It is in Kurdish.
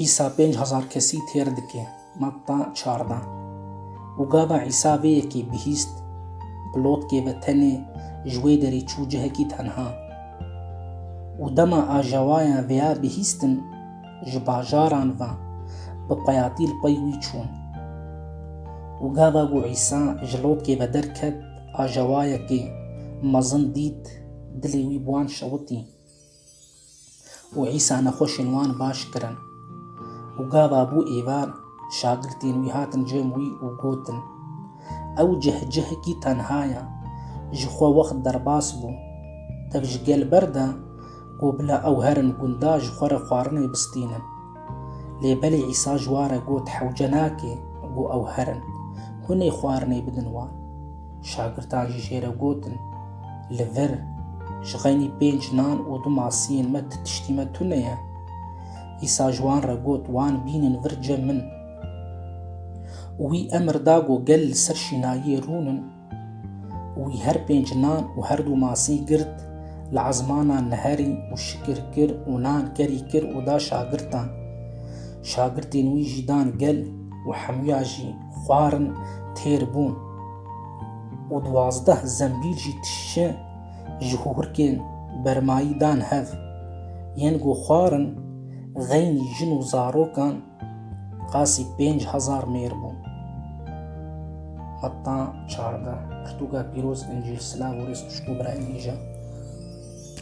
Îsa pênc hezar kesî têr dike, Matta çarda. Û gava Îsa vê yekê bihîst, bi lotkê ve tenê ji wê derê çû cihekî tenha. Û dema ajawayan vêya bihîstin, ji bajaran ve bi peyatî li pey wî çûn. Û gava ku Îsa ji lotkê ve derket, ajawayekê mezin dît, dilê wî bi wan şewitî. û Îsa nexweşên wan baş kirin. Û gava bû êvar, şagirtên wî hatin cem wî û gotin, Ew cih cihekî tenha ye, ji xwe wext derbas bû. Tev ji gel ber de, ku bila ew herin gundan ji xwe re xwarinê bistînin. Lê belê Îsa ji wan re got, Hewce nake ku ew herin. Hûn ê xwarinê bidin wan. Şagirdan jî jê re gotin, Li vir, ji xeynî pênc nan û du masiyên me ti tiştî me tune ye. Îsa ji wan re got, Wan bînin vir cem min. Û wî emr da ku gel li ser şînayiyê rûnin. Wî her pênc nan û her du masî girt, li ezmanan neherî û şikir kir û nan kerî kir û da şagirtan. Şagirtên wî jî dan gel û hemûya jî xwarin têr bûn û duwazdeh zembîl jî tişçe ji hûrkên bermayî dan hev. Yên ku xwarin xeynî jin û zarokan Qasî pênc hezar mêr bû. Heta çardeh, pirtûka pîroz, Încîl, silav û rêz tişt û birayên nîja.